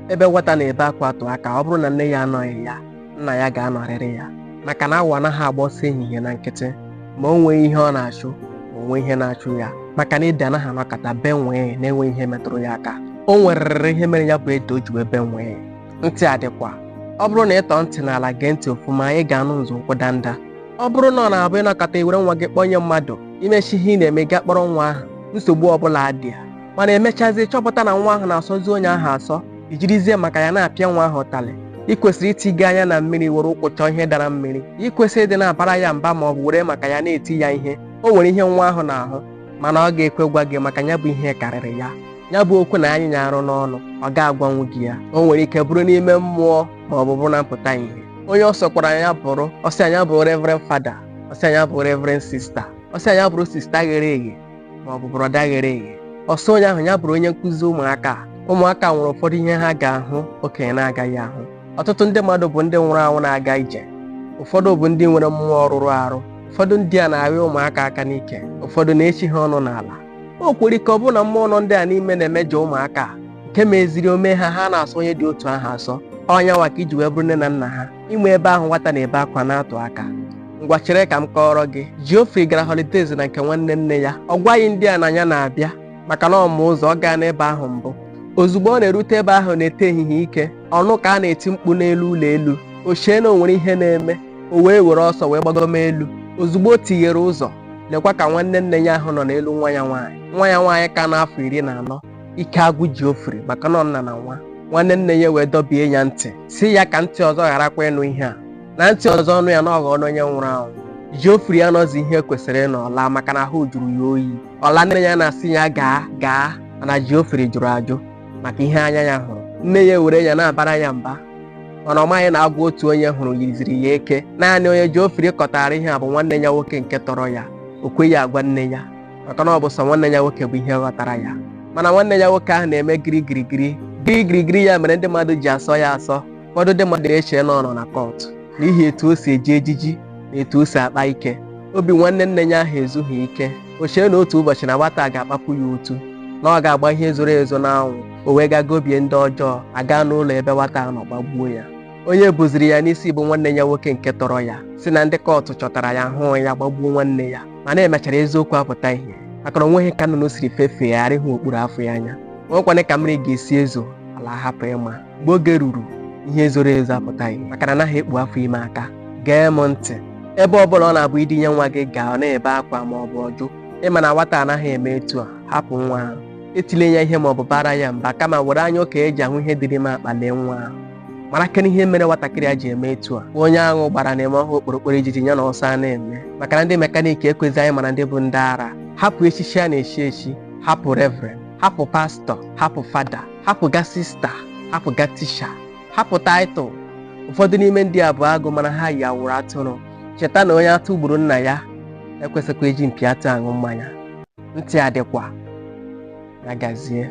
ebe nwata na-ebe akwa atụ aka ọ bụrụ na nne ya anọghị ya nna ya ga-anọrịrị ya maka na awọ anaghị agba ọsọ ehihie na nkịtị ma o nweghị ihe ọ na-achụ ma o nwee ihe na-achụ ya maka na ede anaghị anọkata bee nwii na-enweghị ihe metụrụ ya aka o nwererịrị ihe mere ya bụ ede o ji wee bee nwii ntị adịkwa ọ bụrụ na ị tọọ ntị n'ala gee ntị ofuma ị ga-anụ nzọụkwụ danda ọ bụrụ na ọ na-abụ ị nọkata i were nwa gị kpọnye mmadụ i mechaa ihe ị na-eme gaa kpọrọ nwa ahụ nsogbu ọbụla adị ya mana e mechazie chọpụta na nwa ahụ na-asọzi onye ahụ asọ i jirizie maka ya na-apịa nwa ahụ ụtalị ị kwesịrị itiga anya na mmiri were ụkwụ chọọ ihe dara mmiri ị kwesịrị ịdị na-abara ya mba ma ọ bụ were maka ya na-eti ya ihe o nwere ihe nwa ahụ na-ahụ mana ọ ga-ekwe gwa gị maka ya bụ ihe karịrị ya ya bụ okwu na-anyị ya arụ n'ọnụ ọ ga-agwanwu gị ya o nwere ike bụrụ n'ime mmụọ ma ọ bụ bụrụ na mpụta ihe onye ọ sọkwara ya bụrụ ọ sọ ya bụ reverend father ọ sọ ya bụ reverend sister ọ sọ ya bụrụ sister ghere eghe ma ọ bụ brother ghere eghe ọ sọ onye ahụ ya bụrụ onye nkụzi ụmụaka a. ụmụaka nwere ụfọdụ ihe ha ga-ahụ okenye na-agaghị ahụ ọtụtụ ndị mmadụ bụ ndị nwụrụ anwụ na-aga ije ụfọdụ bụ ndị nwere mmụọ rụrụ arụ ụfọdụ ndị a na-arịọ ụmụaka aka n'ike ụfọdụ na-echi ha ọnụ n'ala o nwere ike ọ bụrụ na mmụọ nọ ndị a n'ime na-emejọ ụmụaka a, nke meziri o mee ha ha na-asọ onye dị otu ahụ asọ ọ ya nwa ka i ji wee bụrụ nne na nna ha inwe ebe ahụ nwata na-ebe akwa na-atụ aka ngwa chere ka m kọọrọ gị Geoffrey gara holidays na nke nwanne nne ya ọ gwaghị ndị a na ya na-abịa maka na ọ ma ụzọ ọ gaana ebe ahụ mbụ ozugbo ọ na-erute ebe ahụ n'ete ehihie ike ọ nụ ka a na-eti mkpu n'elu ụlọ elu o chee na o nwere ihe na-eme o wee were ọsọ wee gbagoma elu ozugbo o tighere ụzọ lekwa ka nwanne nne ya ahụ nọ n'elu nwa ya nwaanyị nwa ya nwaanyị ka nọ afọ iri na anọ ike agwụ Geoffrey maka na ọ nna na nwa nwanne nne ya wee dọbie ya ntị sị ya ka ntị ọzọ gharakwa ịnụ ihe a na ntị ọzọ nụ ya na ọ ghọọ onye nwụrụ anwụ Geoffrey anọzi ihe kwesịrị ịnọ ọ laa maka na ahụ jụrụ ya oyi ọ laa nne ya na-asị ya gaa gaa mana Geoffrey jụrụ ajụ maka ihe anya ya hụrụ nne ya were ya na-abara ya mba mana ọ maghị na agwọ otu onye hụrụ yiziri ya eke naanị onye Geoffrey kọtara ihe a bụ nwanne ya nwoke nke tọrọ ya o kweghị agwa nne ya maka na ọ bụ sọ nwanne ya nwoke bụ ihe ghọtara ya mana nwanne ya nwoke ahụ na-eme girigirigiri girigirigiri ya mere ndị mmadụ ji asọ ya asọ ụfọdụ ndị mmadụ na-eche na ọ nọ na cult n'ihi etu o si eji ejiji na etu o si akpa ike obi nwanne nne ya ahụ ezughị ike o chee na otu ụbọchị na nwata a ga-akpapụ ya otu na ọ ga-agba ihe zoro ezo n'anwụ o wee gaa gobie ndị ọjọọ a gaa n'ụlọ ebe nwata a nọ gbagbuo ya onye buziri ya n'isi bụ nwanne ya nwoke nke tọrọ ya sị na ndị kọtụ chọtara ya hụụ ya gbagbuo nwanne ya mana e mechara eziokwu apụta ihe maka na o nweghị ka nnụnụ siri fefee ghara ịhụ okpuru afọ ya anya o nwekwanụ ka mmiri ga-esi ezo ala hapụ ịma mgbe oge ruru ihe zoro ezo apụta ihe maka na anaghị ekpu afọ ime aka gee m ntị ebe ọ bụla ọ na-abụ i dinye nwa gị gaa ọ na-ebe akwa ma ọ bụ ọ jụ ị ma na nwata anaghị eme etu a hapụ nwa ahụ etile ya ihe ma ọ bụ baara ya mba kama were anya okenye ji ahụ ihe dị n'ime akpa lee nwa ahụ marakene ihe mere nwatakịrị a ji eme etu a onye aṅụ gbara na-eme ọ hụ okporokporo ijiji ya na ọsọ a na-eme maka na ndị mekaniki ekwezi anyị mara ndị bụ ndị ara hapụ echichi a na-echi echi hapụ revren hapụ pastọ hapụ fada hapụ ga sista hapụ ga tisha hapụ taịtụl ụfọdụ n'ime ndị a bụ agụ mana ha yi awụrụ atụrụ cheta na onye atụ gburu nna ya ekwesịkwa iji mpi atụ aṅụ mmanya ntị adịkwa ya gazie